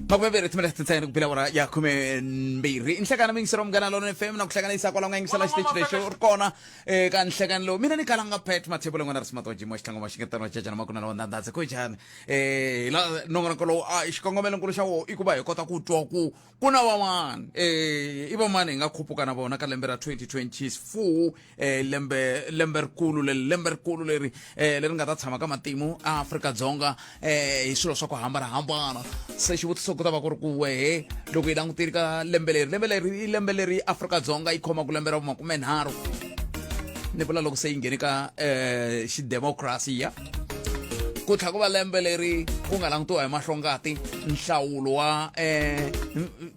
makume mbirhi timinete tintsene ku bela wona ya khume mbirhi i nhlekana mingiselo munghana lona fm na ku hlanganisa kwala u nga yingisela xiteji lexi u ri kona eh, ka nhlekani lowu mina ni kalanga pet mathebo lengwana ri simato jimo xitlhango wa xingetano wa cacana makuna lawa ndandhandze ku njhani um la nongonoko lowu a xikongomelonkulu xa wo i ku va hi kota ku twa ku ku na van'wana um i vamani hi nga khupuka na vona ka lembe ra 2024 eh lembe lembe rikulu le lembe rikulu leri eh leri nga ta tshama ka matimu a Afrika Dzonga eh hi swilo swa ku hambana hambana se xivutiso ku ta va ku ri ku wehe loko yi langutiri ka lembe leri lembe leri i lembe leri Afrika Dzonga yi khoma ku lembe ra makume nharhu ni vula loko se yi nghene ka eh xi democracy ya ku tlha ku va lembe leri ku nga langutiwa hi mahlongati nhlawulo wa eh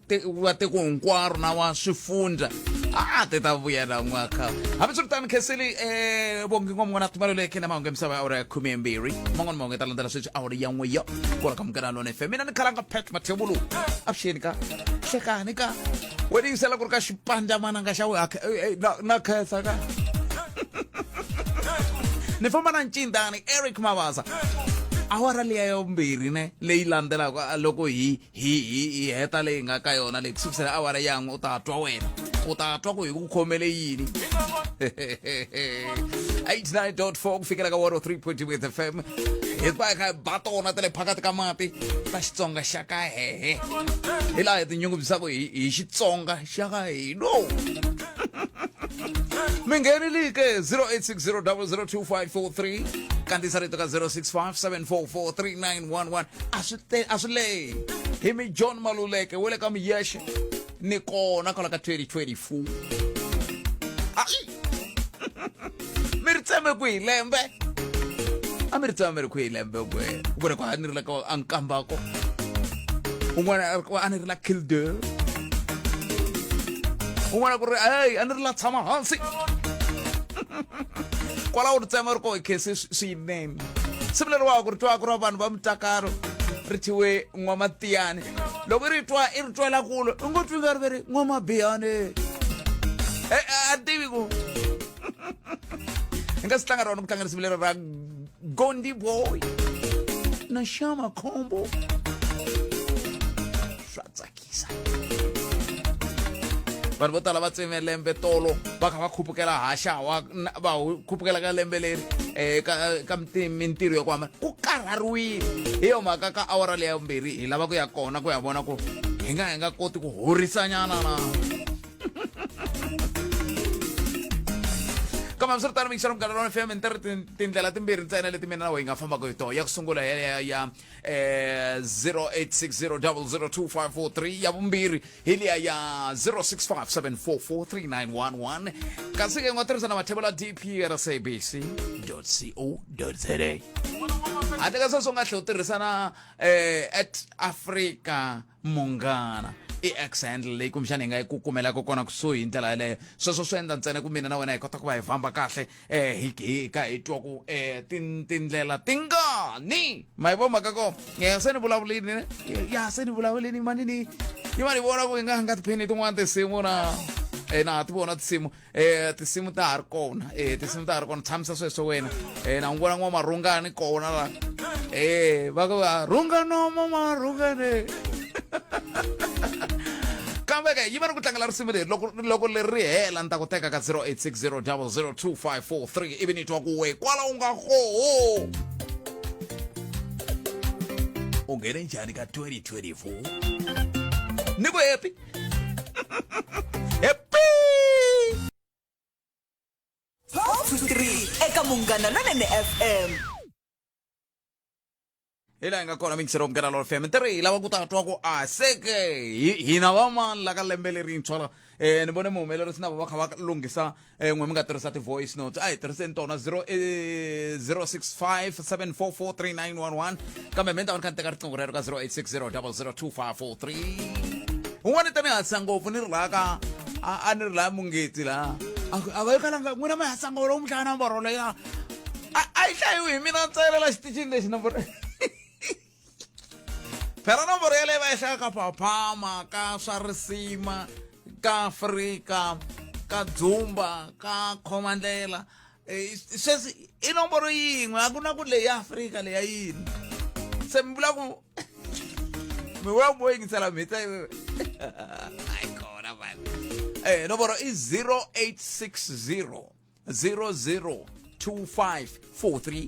te- wa tiko hinkwaro na wa swifundza a ti ta vuya na n'waka hambiswiritano khenseli um vongi n'wa mun'wana tumaleleke na mahungu ya misava ya awara ya khume mbirhi man'wana mahungu ya ta landzela sweswi awara ya n'we yo kona ka munghana lona fm mina ni khalanga pat mathevulu avuxeni ka hlekani ka we ni yisela ku ri ka xipandzamananga xa we ha khe- eh, eh, na- na khensa ka ni famba na ncindani eric mavasa awara leya yombirhi ne leyi landzelaka a loko hi hi hi hi heta leyi nga ka yona leyi kusukusela awara yan'we u ta twa wena u ta twa ku hi ku khomele yini 89.4 ku fikela ka 103.2 with fm hi va hi kha hi ba tona ta le phakathi ka mati ta xitsonga xa ka hehe hi laha hi tinyungubyisaka hi hi xitsonga xa ka hino mi nghenelike 0860002543 kandziyisa rito ka 0657443911 a swi te a swi lehi hi mi john maluleke we le ka miyexe ni kona kwala ka 2024 ai mi ri tseme ku hi lembe a mi ri tseme mi ri ku hi lembe kwe ku ri ku a ni ri la ka a nkambako un'wana a ri ku a ni ri la kildale un'wana ku ri hey a ni ri la tshama hansi kwalaho ri tsema ri koho khe se swinene simuleriwaka ri twa ku ra vanhu va mutakalo ri thiwe n'wamatiyane loko i ri twa i ri twela kulo i ngo twi nga ri ve ri n'wamabiyane e a tivi ku hi nga si tlanga rona ku tlanga risimu leri ra gondi boy na xama khombo swa tsaki tsakisa vanhu vo tala va tseme lembe tolo va kha va khupukela haxawa va khupukela ka lembe leri um ka ka mintirho ya ku hambana ku karhariwile hi yo mhaka ka awara leyi ya vumbirhi hi lava ku ya kona ku ya vona ku hi nga hi nga koti ku horisanyana na kambe swi ri tano mixana mugala lona fm ni tiri tindlela timbirhi ntsena leti mina na weyi nga fambaka hi tona ya ku sungula ya ya ya eh 0860002543 ya vumbirhi hi liya ya 0657443911 kasi ke nga tirhisa na mathebo la dprsabc co za handle ka sweswo u nga tlhe u tirhisa na eh at africa munghana i ex handle leyi kumbexana hi nga yi ku kumelaka kona kusuhi hi ndlela yeleyo sweswo swi endla ntsena ku mina na wena hi kota ku va hi famba kahle um hi hi ka hi twa ku um tindlela ti ngani ma yi vo mhaka ko um se ni vulavulini ne ya se ni vulavulini manini yi va ni vona ku yi nga nga tiphini tin'wana tinsimu na um na ha ti vona tinsimu eh tinsimu ta ha ri kona eh tinsimu ta ha ri kona tshamisa sweswo wena eh na n'wi vona n'wamarhungani kona la eh va ku va rhungano mamarhungane kambe ke yi va ni ku tlangela risimu leri loko loko leri ri hela ni ta ku teka ka 0860 00254 ivi ni twa ku we kwala u nga koho u nghene njhani ka 2024 ni ku happy eka munghana lonene fm hi laha hi nga kona mixero munghana lolo fm ntirho hi lava ku ta twa ku a seke hi- hina vamani la ka lembe lerintshwa la um ni vone muhumelerisi na va va kha va lunghisa eh n'we mi nga tirhisa ti-voice notes a hi tirhiseni tona 0 eh, 065 7443911 kambe mi ni ta va ni kha ni teka riqingho rero ka 0860002543 un'wana i ta ni hasa ngopfu ni ri laha ka a a ni ri laha mungeti laha a ku, a va yi kalanga n'wina mi hasa ngopfu lowu mi hlaya namboro leya a a yi hlayiwi hi mina ntsayela la xiticini lexi namboro phela nomboro yaleyi va ehlaya ka phaphama ka swa risima ka afrika ka dzumba ka khomandlela eh, sweswi i nomboro yin'we a ku na ku leyi ya afrika leya yini se mi vula ku mi vula ku mo yingisela mhita ayi kona vana um nomboro i 0860 002543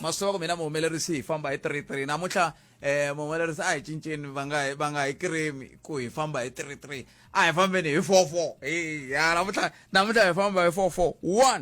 masova kumina muhumelerisi hi famba hi 33 namuntlha eh muhumelerisi a hi cinceni va nga hi- va nga hi kirimi ku hi famba hi 33 a hi fambeni hi 44 hi ya namuntlha namuntlha hi famba hi 44 1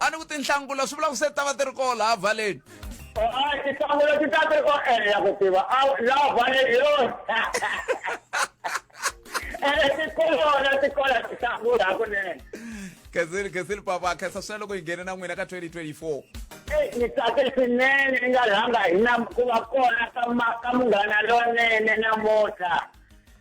a ni ku tinhlangula swi vula ku se ta va ti ri koo laha vhaleni tinhlangula ti ta ti ri ko ene ya ku tiva laha vhaleni yo ene ti kolona ti kola tinhlangula hakunene khensile khensile papa khensa swinene loko hi nghene na n'wina ka 2024 ni tsake swinene ni nga rhanga hi na ku va kona ka munghana lonene namuntlha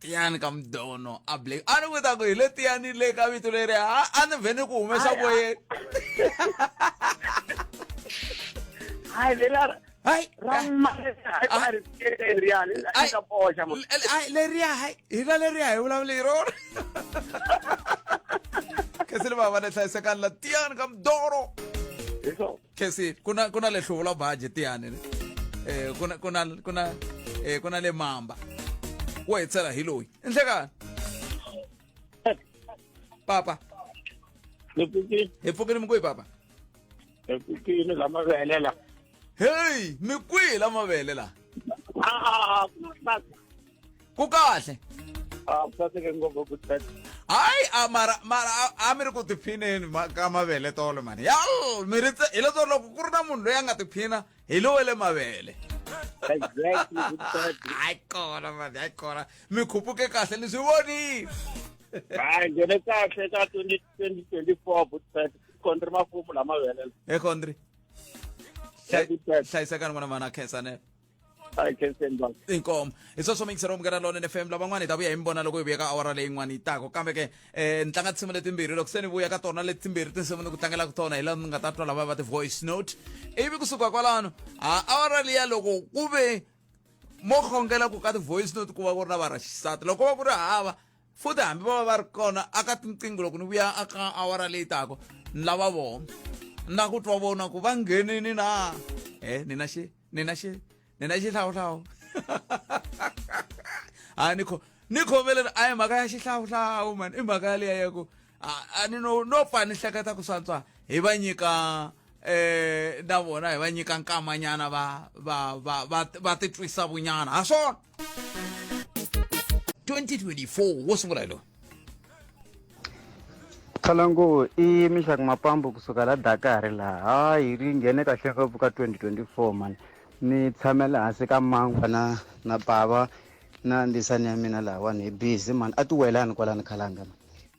tiyani ka mdono a black a ni vuta ku hi le tiyani le ka vito leri a a ni vhe ni ku humesa voyeni hayi leri a ri- hayi ra Ah. leriya Ai. ka boxa mo L- ai, leriya hayi hina leriya hi vulavula hi rona kasi ni vava ni hlayisekani la tiyani ka mdono hi swona kesi ku na ku na le hluvula baji tiyani eh ku na ku na ku na eh ku na le mamba wo hi tsela hi loyi i nhlekani papa ni pfukile hi pfukile mi kwihi papa ni pfukile la mavele la heyi mi kwihi la mavele la a a a ku na ku kahle Ah, ku saseke ngopfu ku tsaka. hayi a mara mara a- a mi ri ku tiphineni ma- ka mavele tolo mani yal mi ri tse- hileswo loko ku ri na munhu loyi a nga tiphina hi lowe le mavele Exactly, ku tsaka. hayi kona mani hayi kona mi khupuke kahle ni swi vonile Hayi, ngene kahle ka 20 2024 ku tsaka. Kondri mafumu lama vele. ekhondri Ku tsaka. hlayisekani n'wana mana khensanela hi khensen baba inkomo hi sweswo mi yingiseriwa munghana lonene fm lavan'wana hi ta vuya hi mi vona loko hi vuya ka awara leyin'wana yi tako kambe ke um ni tlanga tinsimu letimbirhi loko se ni vuya ka tona letimbirhi tinsimu ni ku tlangelaka tona hi laha ni nga ta twa lava va ti-voice note ivi kusuka kwalano a awara liya loko ku ve mo khongela ku ka ti-voice note ku va ku ri na va ra xisati loko va ku ri hava futhi hambi va va va ri kona aka tinqingho loko ni vuya aka awara leyi tako ni lava vona na ku twa vona ku va nghenini na e nina xi nina xi nina xihlawuhlawu hayi ni kho ni khomeleni a hi mhaka ya xihlawuhlawu mani i mhaka yaleya ya ku a ni no no pfa ni hleketa ku swantswa hi va nyika eh na vona hi va nyika nkamanyana va va va va va titwisa vunyana ha swona 2024 wo sungula hi lowu khalangu i mixaka mapambu kusuka la dakari laha hayi ri nghene kahle ngopfu ka 2024 mani ni tshamele hansi ka mangwa na na bava na ndisani ya mina lahawani hi busy mani a ti welani kwalani khalanga mani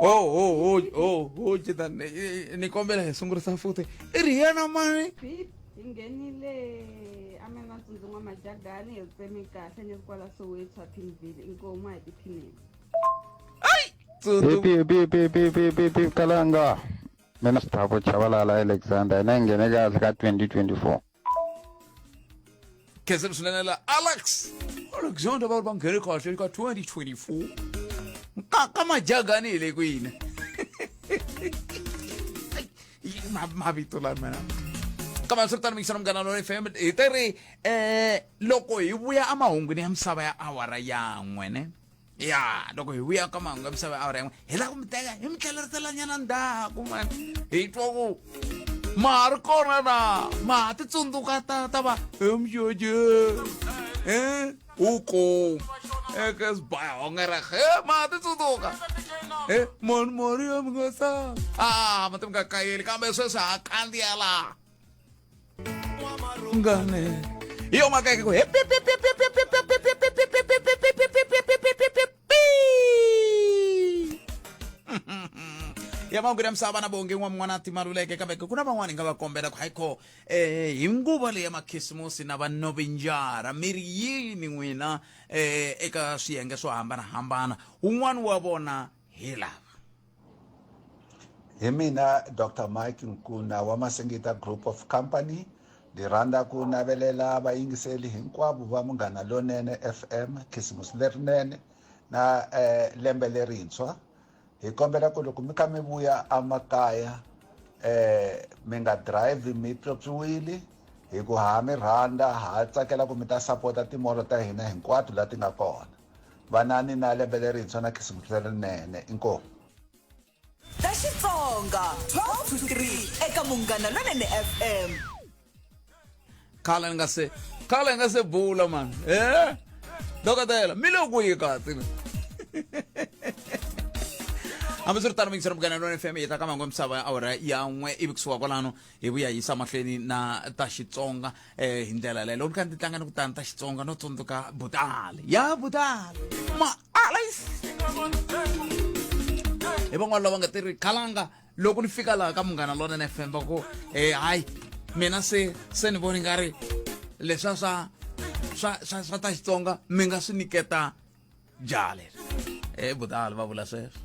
Oh, oh, oh, oh, oh, chitani. Nikombe la Yesu ngurisa futhi. Iriyana mani. Beep, hi nghenile emantsundzu n'wa majagani hi tsemi kahle ni ri kwala soweto aphinville inkomu a hi tiphineni kalanga mina sithabo chavalala alexander hina hi nghene kahle ka 2024 ke se msulanela alex alex yonto abantu bangene kahle ka 2024 ka ka majagani hi le kwini Ma- mavito lani mana kambe swi ri tani mikisana munghana lona fm hi te ri um loko hi vuya emahungwini ya misava ya awara yan'we ne ya loko hi vuya ka mahungu ya misava awara yin'we hi lava ku mi teka hi mi tlheleriselanyana ndzhaku mani hi twa ku ma ha ri kona na ma ha ti tsundzuka ta ta va emjoje e u kom eka sibaya honge ra he ma ha ti tsundzuka e mani mari ya mi nga sa a ma ti mi nga kayeli kambe sweswi ha kandziya laha E o macaco. ya mahungu ya misava na vonge n'wa n'wana timaluleke kambe ku na van'wani nga va kombela ku hayikho eh hi nguva leyi ya makhisimusi na va novinjara mi ri yini n'wina eh eka swiyenge swo hambanahambana wun'wani wa vona hi lava hi mina dr mike nkuna wa masingita group of company ndzi rhandza ku navelela vayingiseli hinkwavo va munghana lonene fm khisimusi lerinene na eh, lembe lerintshwa hi kombela ku loko mi kha mi vuya amakaya eh mi nga drive mi pyopyiwile hi ku ha mi rhandza ha tsakela ku mi ta sapota timolo ta hina hinkwato la ti nga kona Vanani na Lembe Lerintshwa na Khisimusi Lerinene. Inkomu. Ta Xitsonga 12 to 3 eka Munghana Lonene FM. Khala ni nga se khala ni nga se bula man. Eh? Dokotela, mi le ku yi kati. hambiswiritano mingisera mugana lona fm yi ta ka mango misava ya awara ya n'we ivi kusuka kwalano hi vuya hi yisa mahlweni na ta xitsonga eh hi ndlela leyo loko ni tlanga ni ku tani ta xitsonga no tsundzuka butale ya butale ma alis hi van'wana lava nga tirhi khalanga loko ni fika laha ka munghana lonene fm va ku eh hayi mina se se ni voni nga ri leswa swa swa swa swa ta xitsonga mi nga swi niketa jale e eh, budala va vula sweswo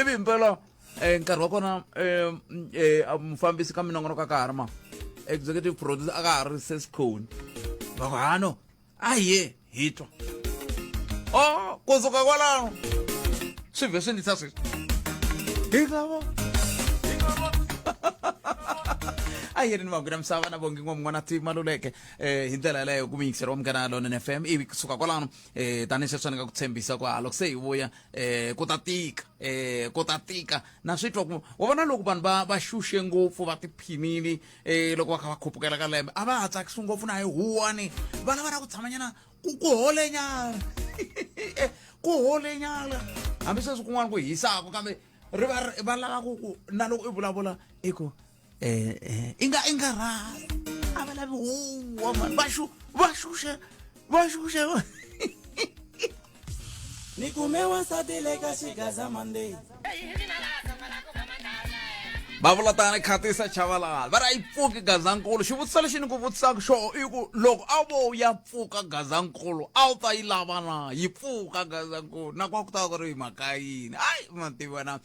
ivi himpela um eh, nkarhi wa kona um mufambisi ka minongonoko a ka ha ri ma executive producer a ka ha ri sesikhoni va ku hano a ye hi twa o oh, kusuka kwalaho swi vhe swi ndisa sweswi hi lavo a yi ri ni magwina misava na vongi n'wa mun'wana ti maluleke um eh, hi ndlela yaleyo ku miyingiseri wa munghana london f m ivi kusuka kwalano eh tani se fanaka ku tshembisa ku loko se hi vuya eh ku ta tika eh ku ta tika na swi twa ku wa vona loko vanhu va va xuxe ngopfu va tiphinile eh loko va kha va khupukela ka lembe a va ha tsakisi ngopfu na hi huwani va lava na ku tshamanyana ku ku holenyana eh, ku holenyana hambi sweswi kun'wana ku hisaka kambe ri va va lava ku ku na loko i vulavula i ku eh, eh, i nga i nga rhali a va lavi huwa mani va xu va xuxe va xuxe ni kume wansati le ka xigaza monday va vula tani khatisa chavalala va ri a yi pfuki gazankulu xivutiso lexi ni ku vutisaka xo i ku loko a vo ya pfuka gazankulu a wu ta yi lava na yi pfuka gazankulu na kwa ku ta ku ri mhaka yini ayi mativana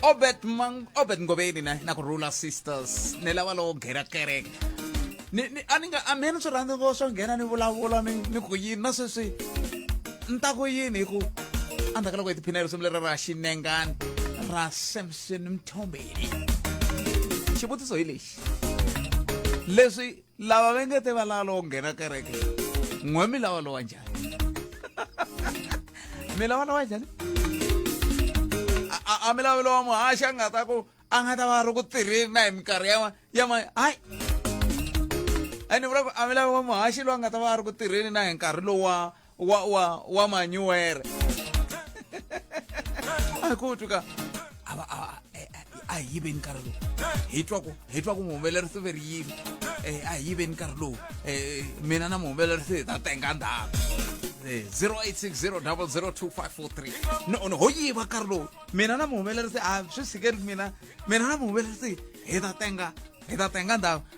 obet mang obet ngobeni na na ku rula sisters ni lava lowo ghera kereke ni ni a ni nga a mina swi rhandzi ngo swo nghena ni vulavula ni ni ku yini na sweswi ni ta ku yini hi ku endzhaku ka loko hi tiphinela risimu leri ra xinengani ra samson mthombeni xivutiso hi lexi leswi lava va nge te va lava lowo nghena kereke n'we mi lava lowa njhani mi lava lowa njhani a mi lavi lowa muhaxi a nga ta ku a nga ta va ri ku tirheni na hi minkarhi ya ya ma hayi a ni vula ku a mi lavi wa muhaxi loyi a nga ta va a ri ku tirheni na hi nkarhi lowa wa wa wa manyuwere a ko tuka a va a eh, eh, a hi yiveni nkarhi lowu hi twa ku hi twa ku muhumelerisi ve ri yini Eh, a hi yiveni nkarhi lowu Eh, mina na muhumelerisi hi ta tenga ndhawu 0860002543 no no ho yiva nkarhi lowu mina na muhumelerisi a swi tshikeli mina mina na muhumelerisi hi ta tenga hi ta tenga ndhawu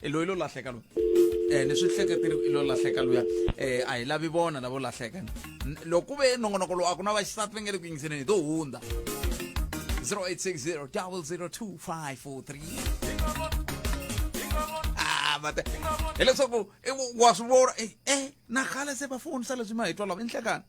e loyi lo lahleka loyi um ni swi hleketiri i lo lahleka luya um a hi lavi vona lavo lahleka loko ku ve nongonoko lowu a ku na vaxisati va nge le ku yingiseleni hi to hundza 0860 002 mate hileswaku wa swi vona e na khale se va fonisa leswi ma hi twa lava i nhlekani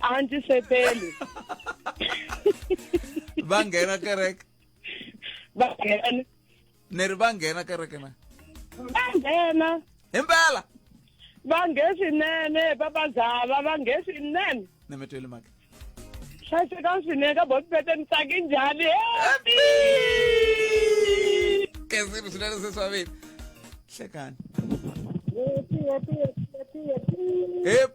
a ndzi seteli va nghena kereke va nghena ni ri va nghena kereke na va nghena himpela va nghe swinene papazava va nghe swinene ni mi tweli maka hlayisekani swinene ka bosipete ni tsaki njhani happy kesini swinene seswavini hlekani happy happy happy happy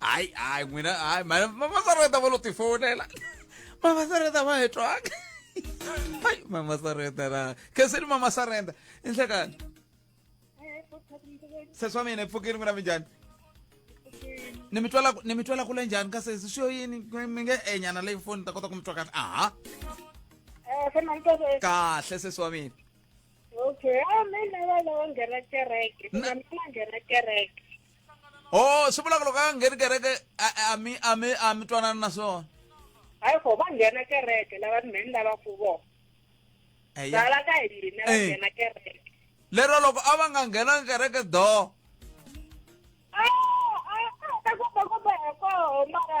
hayi hayi n'wina hayi mamasareta ta va lo tifonela mamasareta va hi twanga hayi mamasareta ra khenseni mamasarenda i nhlekani sesi wa mina i pfukile n'wina mi njhani ni mi twela ni mi twela kule njhani ka sesi swi yo yini mi nge enyana leyi foni ta kota ku mi twa kahle aha kahle sesi wa mina okay a mina va lava nghena kereke mina nghena kereke oh swi vulaka loko a ngheni kereke a- a- a mi a mi a mi twanana na swona hayi ko va nghena kereke lava mheni lavaku vona eya lava ka hina va Eh. nghena kereke lero loko a va nga nghenanga kereke do Ah, ah, ah, ta komba komba hi koho mara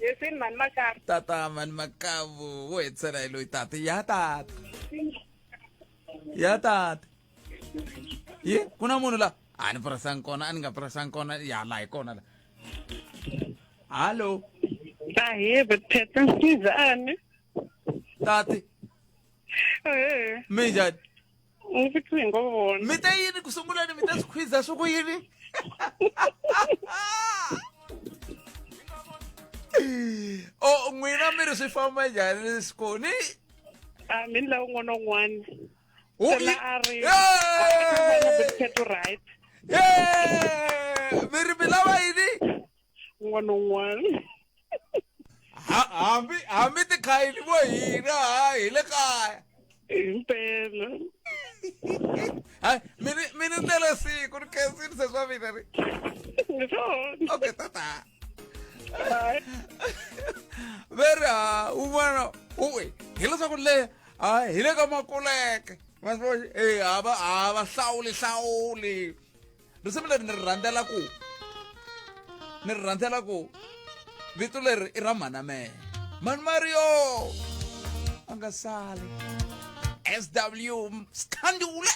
Yesini mani makaya. tata mani makavu wo hetisela hi loyi tata ya tata ya tata yi ku na munhu la a ni purasanga kona a ni nga purasanga kona ya la hi kona la hallo Ahee, Betheta Sizane. tati Eh, mi njhani Ni riqingho vona. mi ta yini ku sunguleni mi ta swi khwiza swi ku yini o Oh, n'wina mi ri swi famba njhani siku ni A mi ni lava un'wana na un'wana. Hu Se na yi- a ri. Yay! Khetho right. Yay! mi ri mi lava yini un'wana na un'wana Ha- hambi hambi tikhayili vo hina ha hi le kaya himpela hayi mini mini ni tele siku ni khensini se swa mina ri hi swona okay tata Hayi. veri ha un'wana uwe hileswaku le ha hi le ka makuleke vasivona e hava hava hlawuli hlawuli risimu leri ni ri rhandzela ku ni ri rhandzela ku vito leri i ra mhanamele mani mario a nga sali sw sikhandula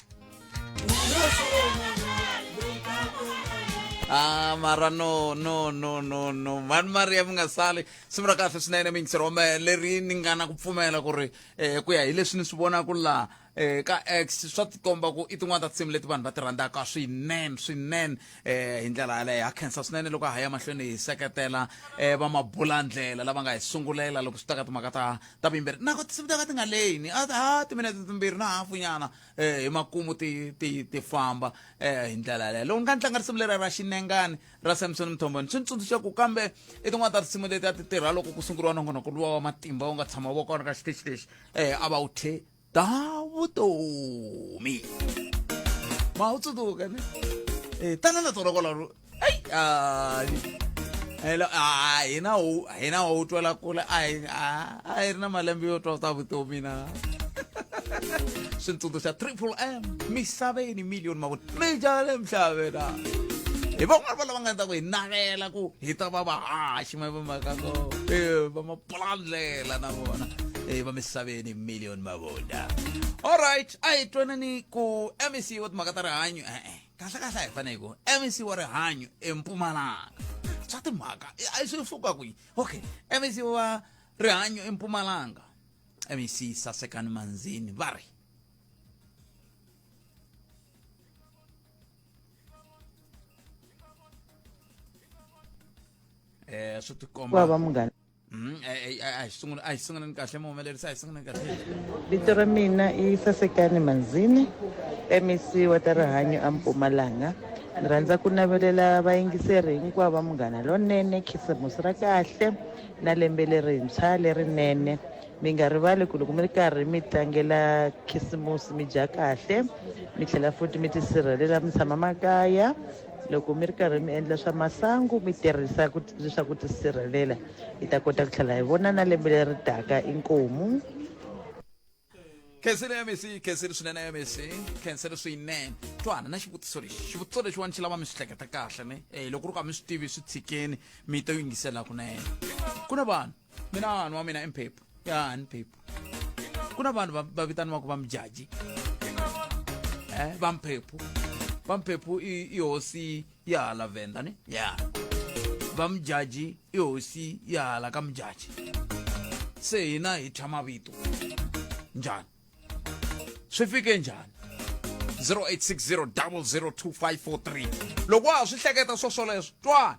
Ah, mara no no no no no mani maria mi nga sali simu ra kahle swinene mi yingiseri wa mehe leri ni nga na ku pfumela ku ri um ku ya hi leswi ni swi vonaka laha eh ka x swa tikomba ku i tin'wana ta tinsimu leti vanhu va ti rhandzaka swinene swinene eh hi ndlela yaleyo ha khensa swinene loko ha ya mahlweni hi seketela eh va mabulandlela lava nga hi sungulela loko swi ta ka timhaka ta ta vuyimbeleri nako tinsimu ta ka ti nga leyini a ha timinete timbirhi na hafunyana eh hi makumu ti ti ti famba eh hi ndlela yaleyo loko ni nga ni tlanga risimu leri ra xinengani ra samson mthomboni swi ni tsundzuxa ku kambe i tin'wana ta tinsimu leti a ti tirha loko ku sunguriwa nongonoko luwa wa matimba wu nga tshama wu va kona ka xiteji lexi eh a va wu the ta vutomi ma wu tsundzuka ni eh tanana tolokola ro ai ai hello a hina wu hina wu twela kule a hi a hi ri na malembe yo twa ta vutomi na switsundzuxa triple m misaveni million mavona mi jale mhlavena hi van'wana va lava nga ta ku hi navela ku hi ta va vahaxi ma va maka ko pfulandlela na vona e va misaveni million mavonda alright a hi twanani ku mec wa timhaka ta rihanyo e-e kahle kahle a hi fanele ku mec wa rihanyo empumalanga swa timhaka i- a swi suka kwihi okay mec wa rihanyo empumalanga mec sasekani manzini va ri eh swi ti komba va munghana hmm, eh, eh, eh, a hi sungula a hi sunguleni kahle muhumelerisi a hi sunguleni kahle vito ra mina i sasekani manzini mec wa ta rihanyo ampumalanga ni rhandza ku navelela vayingiseri hinkwavo va munghana lonene khisimusi ra kahle na lembe lerintshwa lerinene mi nga rivali ku loko mi ri karhi mi tlangela khisimusi mi dya kahle mi tlhela futhi mi tisirhelela mi tshama makaya loko mi ri karhi mi endla swa masangu mi tirhisa ku leswaku tisirhelela hi ta kota ku tlhela hi vona na lembe leri taka inkomu khensile ya misi khensile swinene ya misi khensile swinene twana na xivutiso lexi xivutiso lexiwani xi lava mi swi hleketa kahle ne um loko ri ku a mi swi tivi swi tshikeni mi to yingisela kunene ku na vanhu mina vanhu wa mina i mphephu ya ni phephu ku na vanhu va- va vitaniwaka va mujaji eh, va mphephu va mphephu i i hosi ya hala venda ni ya va mujaji i hosi ya hala ka mujaji se hina hi thya mavito njhani swi fike njhani 0860 loko wa ha swi hleketa swo swoleswo twana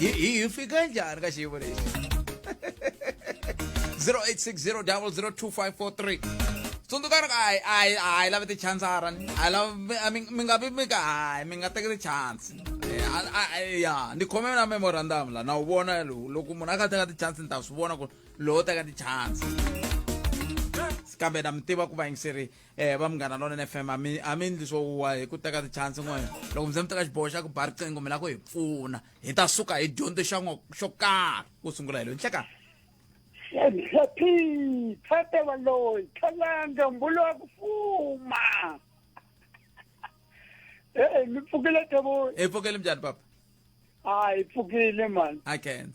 hi hi fika njhani ka xiyimo lexi 0860002543 tsundzukani ku hayi hayi hayi lava tichansara ni hayi lava mi- a mi mi nga vi mi ka hayi mi nga teki tichansi Eh, a- a- a- ya ni khome na memorandum la na wu vona lo- loko munhu a ka teka tichansi ni ta swi vona ku lowo teka tichansi kambe na mi tiva ku vayingiseri eh va munghana lona fm a mi a mi ndli swo wa hi ku teka tichance n'we loko mi ze mi teka xiboho xa ku ba riqingho mi la ku hi pfuna hi ta suka hi dyondze xa n'we xo karhi ku sungula hi lo nhleka Happy, thata valoyi, khalanga, mbulu wa ku fuma. Eh, mi pfukile tabo. Hi pfukile mjani papa? Ah, hi pfukile man. I can't.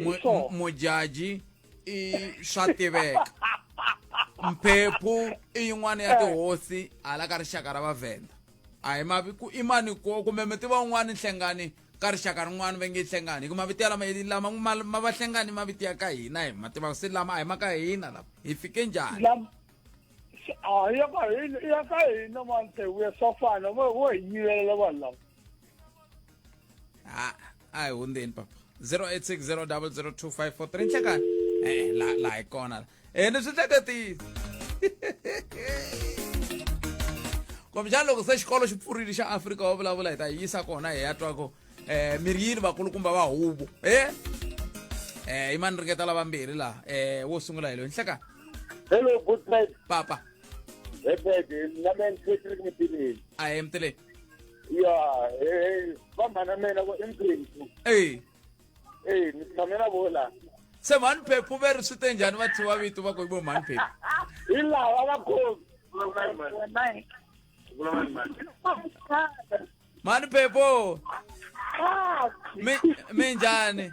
Mu- So. mu- mujaji i swa tiveka mphephu i yin'wana ya tihosi hala ka rixaka ra vavhenda a hi maviku i mani ko kumbe mi tiva un'wana nhlengani ka rixaka rin'wana va nge i nhlengani hi ku mavito ya lama hi- lama ma- ma va hlengani i mavito ya ka hina hi ma tiva se lama a hi ma ka hina lama hi fike njhani Lam- s- ah, ya ka hina ya ka hina mantsevuya swa fana vo vo hi yivelela vanhu lava Ah, a hi hundzeni papa 0860002543 nhlekani e la la hi kona la ene swi hleketile kumbexana loko se xikolo xi pfurile xa afrika wa vulavula hi ta yi yisa kona hi ya twako um miryini vakulukumba va huvo e um i mani ringeta lavambirhi laha um wo sungula hi loyi nhlekani hello good night papa hi phedi na me ni patrick mipileli a hi emtileni ya eh vamhana mina vo i mphephu eyi eyi ni tshame na vo laha se mhani phephu ve ri swi te njhani va thyiwa vito va ku i vo mhani phephu hi lava va khomi mhani phephu mi mi njhani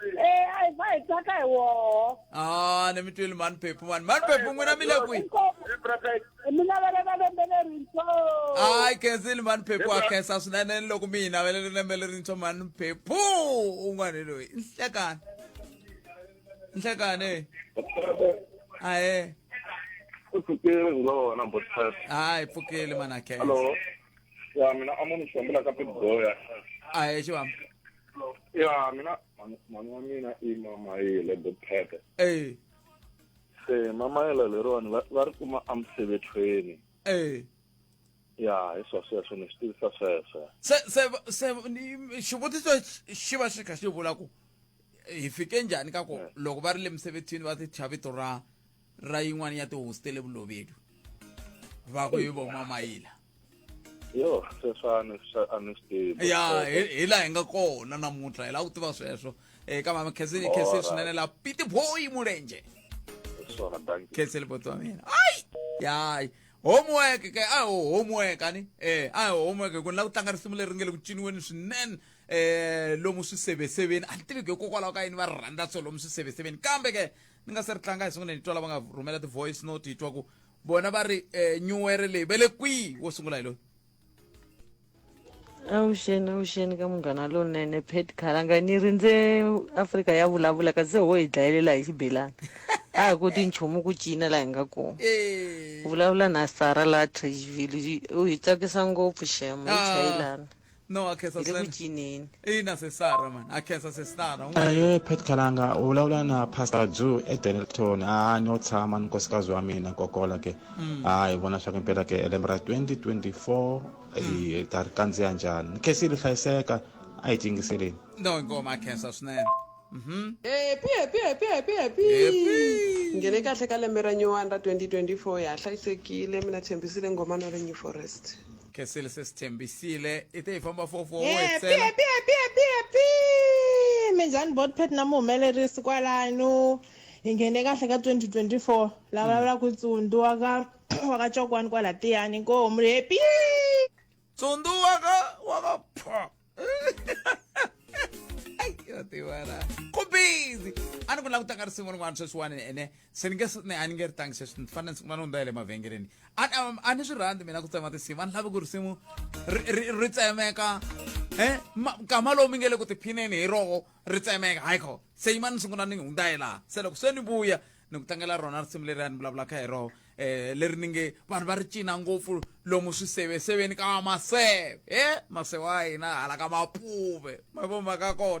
Eh, ai va hi tsaka hi woho. ah ni mi twile mani phephu mani mani phephu n'wina mi le kwihi Mi navelela lembe lerintshwa. hayi khensile mani phephu wa khensa swinene loko mi hi navelele lembe lerintshwa mani phephu un'wana loyi nhlekani nhlekani ahe ku pfukile ngona botfet hayi pfukile mana khensa hallo ya mina a mu ni xiambula ka pitboya ahe xivamba ya mina mhani wa mina i mamayile bophete e se mamayela leriwani va ri kuma emisebethweni e ya hi swa sweswo ni swi tivisa sweswo se se se xivutiso xi va xi kha xi vula ku hi fike njhani ka ku loko va ri le misebethini va ti thya vito ra ra yin'wana ya tihosi te le vulovedu va ku hi von'wamayila yo sweswo a ni a ni swi tivi ya hi hi laha hi nga kona namuntlha hi lava ku tiva sweswo eka mama khensile khensile swinene la piti boyi mulenje hi swona danki khensile boti wa mina ayi yayi homework ke a ho homework ani eh a ho homework ku ni lava ku tlanga risimu leri nge le ku ciniweni swinene eh lomu swiseveseveni a ni tivi ku hikokwalaho ka yini va ri rhandza so lomu swiseveseveni kambe ke ni nga se ri tlanga hi sungule ni twa lava nga rhumela ti-voice note hi twa ku vona va ri um eh, nyuwere leyi ve le kwihi wo sungula hi loyi avuxeni avuxeni ka munghana lonene pet khalanga ni rindze afrika ya vulavula kasi se ho hi dlayelela hi xibelani a hi koti nchumu ku cina laha hi nga kona eh. vulavula na sara laha trageville u hi tsakisa ngopfu shema hi ah. chayelana no akhensa iri ku sena cineni ina sesara mani akhensa sesara u nga aye pet kalanga u vulavula na pastor jew edenelton a no tshama ni nkosikazi wa mina kokola ke a hi vona swa ku impela ke lembe ra 2024 hi ta ri kandziya njhani ni khesile hlayiseka a hi tingiseleni no ingoma akhensa swinene mhm Happy, happy, happy, happy, happy. Happy. Ngene kahle ka lembe ra nyuwani ra 2024 ya ha hlayisekile mina tshembisile ngomano le New Forest. khesile se si tshembisile i te hi famba fofo wo Eh, etsela pia, pia, pia, pia, pia. minjhani botpet na muhumelerisi kwalano hi nghene kahle ka 2024 la vulavulaka hi tsundu wa ka wa ka cokwani kwala tiyani inkomu ri hepi tsundu waka waka pho yo tivara ku busy a ni ku lava ku tlanga risimu rin'wana sweswiwani ene se ni nge s- ni a ni nge ri tlangi sweswi ni fanele ni sungula ni hundza ya le mavhengeleni a a- a ni swi rhandzi mina ku tsema tinsimu a ni lavi ku risimu ri- ri ri tsemeka e kama lowu mi nge le ku tiphineni hi roho ri tsemeka hayi kho se yima ni sungula ni hundza hi laha se loko se ni vuya ni ku tlangela rona risimu leri a ni vulavulaka hi roho um leri ni nge vanhu va ri cina ngopfu lomu swiseveseveni ka maseve e maseve wa hina hala ka mapuve ma vo maka kona